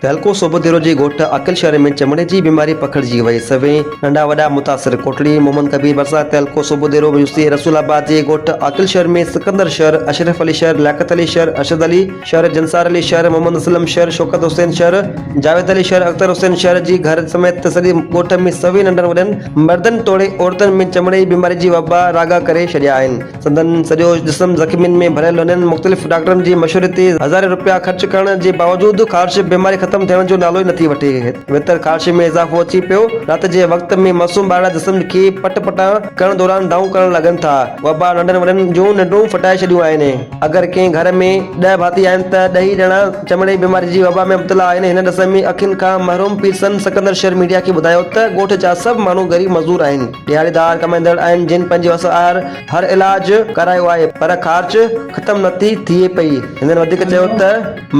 تعلقو صوبديرو جي ڳوٺ عاقل شهر ۾ چمڙي جي بيماري پکڙجي وئي سوين ننڍا وڏا متاثر ڪوٽڙي محمد ڪبير ڀرسان تعلقو صوبديرو ميونسي رسول آباد جي ڳوٺ عاقل شهر ۾ سڪندر شهر اشرف علي شهر لياقت علي شهر ارشد علي شهر جنسار علي شهر محمد اسلم شهر شوڪت حسين شهر جاويد علي شهر اختر حسين شهر جي گهر سميت سڄي ڳوٺ ۾ سوين ننڍن وڏن مردن توڙي عورتن ۾ چمڙي جي بيماري جي وبا راڳا ڪري ڇڏيا آهن. سندن سڄو جسم زخمين ۾ ڀريل هونين مختلف ڊاڪٽرن جي مشوري تي هزارين رپيا خرچ ڪرڻ جي باوجود خارش بيماري ختم ٿيڻ جو نالو ئي نٿي وٺي ويتر خارش ۾ اضافو اچي پيو رات جي وقت ۾ معصوم ٻارڙا جسم کي پٽ پٽان ڪرڻ دوران دانهون ڪرڻ لڳن ٿا وبا ننڍن وڏن جون ننڊون ڦٽائي ڇڏيون آهن اگر ڪنهن گهر ۾ ڏهه ڀاتي آهن ته ڏهي ڄڻا چمڙي جي بيماري جي وبا ۾ مبتلا آهن، هن ڏس ۾ اکين کان محروم پير سن سڪندر شير ميڊيا کي ٻڌايو ته ڳوٺ جا سڀ ماڻهو غريب مزور آهن، ڏهاڙيدار ڪمائيندڙ آهن جن پنهنجي وس آهر هر علاج ڪرايو آهي پر خارچ ختم نه ٿي ٿئي پئي، هنن وڌيڪ چيو ته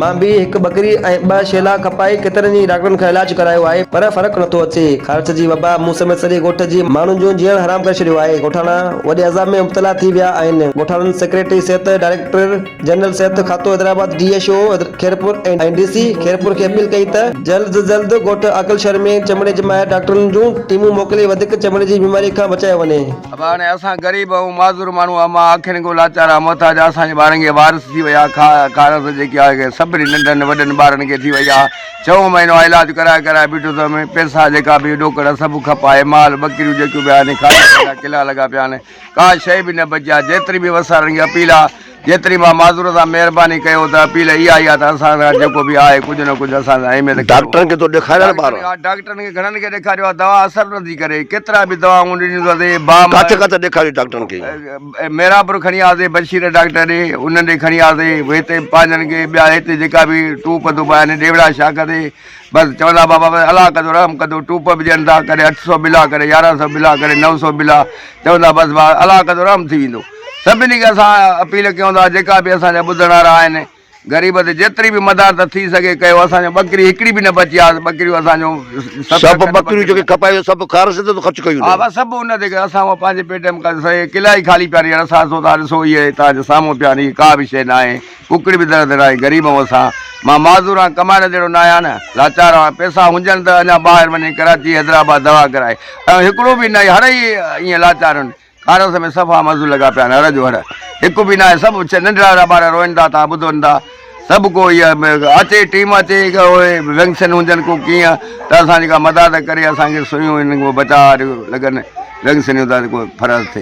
مان به هڪ ٻڪري ۽ ٻه شيلا کپائي ڪيترن ئي ڊاڪٽرن کان علاج ڪرايو آهي پر فرق نٿو اچي، خارچ جي وبا مون سميت سڄي ڳوٺ جي ماڻهن جو جيئڻ حرام ڪري ڇڏيو آهي، ڳوٺاڻا وڏي عذاب ۾ مبتلا ٿي ويا آهن، ڳوٺاڻن سيڪريٽري صحت ڊائريڪٽر. جنرل صحت کاتو Hyderabad D H O Khairpur ۽ D C Khairpur کي اپيل ڪئي ته جلد از جلد ڳوٺ عاقل شھر ۾ چمڙي جي ماهر ڊاڪٽرن جون ٽيمون موڪلي وڌيڪ چمڙي جي بيماري کان بچايو وڃي. ابا هاڻي اسان غريب ۽ معذور ماڻهو اما اکين ڪو لاچار ۽ محتاج آ اسان جي ٻارن کي وارث ٿي وئي آ کاء کارس جيڪي آ کي سڀني ننڍن وڏن ٻارن کي ٿي وئي آ ڇهون مهينو آ علاج ڪرائي ڪرائي بيٺو ٿم پيسا جيڪا به ڏوڪڙ سڀ کپ آهي مال ٻڪريون جيڪيون به آهن کاڌا پيتا ڪلا لڳا پيا آهن ڪا شيء به نه بچي آ، جيتري به وسارڻ جي اپيل آ، جيتري مان معذور سان مهرباني ڪيو ته اپيل اها ئي آ ته اسان سان گڏ جيڪو به آهي ڪجهه نه ڪجهه اسان سان اهميت ڪيو. ڊاڪٽرن کي تو ڏيکاريان ٻار. ڊاڪٽرن کي گهڻن کي ڏيکاريو آ، دوا اثر نٿي ڪري، ڪيترا به دوائون ڏنيون ته اٿي بام. ڪاٿي ڪاٿي ڏيکاريو ڊاڪٽرن کي؟ ميرانپور کڻي آياسي بشير ڊاڪٽر ڏي، انهن ڏي کڻي آياسي، هتي پنهنجن کي ٻيا هتي جيڪا به ٽوپ ڌوپ آهن ڏيوڙا شاخ تي. بس چوندا بابا بس الله ڪندو رحم ڪندو ٽوپ به ڏين ٿا ڪڏهن اٺ سو بلا ڪڏهن يارهن سو بلا ڪڏهن نو سو بلا چوندا بس بابا الله ڪندو رحم ٿي ويندو سڀني کي اسان اپيل ڪيون ٿا جيڪا به اسان جا ٻڌڻ وارا آهن غريب تي جيتري به مدار ته ٿي سگهي ڪيو اسان جو ٻڪري هڪڙي به نه بچي آهي ٻڪريون اسان جو سڀ ٻڪريون جيڪي کپايو سڀ خارج ته خرچ ڪيون ها بس سڀ ان تي اسان پنهنجي پيٽ ۾ قلعه ئي خالي پيا رهي اسان سو ڏسو هي تان جو سامهون پيا رهي ڪا به شيء نه آهي ڪوڪڙي به در در آهي غريب هئن سان مان معذور آهيان ڪمائڻ جهڙو نه آهيان نه لاچار آهيان پئسا هجن ته اڃا ٻاهر وڃي ڪراچي حيدرآباد دوا ڪرائي ايون هڪڙو به نه آهي هڙ ئي ائين لاچار آهن ڪارس ۾ صفا مزو لڳا پيا آهن هڙ جو هڙ هڪ به نه آهي سڀ ننڍڙا ننڍڙا ٻار روئن ٿا ٿا ٻڌن ٿا سڀ ڪو هي اچي ٽيم اچي وينگسن هجن ڪو ڪيئن ته اسان جيڪا مداد ڪري اسان کي سوئيون هن کي بچاء لڳن وينگسنيون ته ڪو فرض ٿئي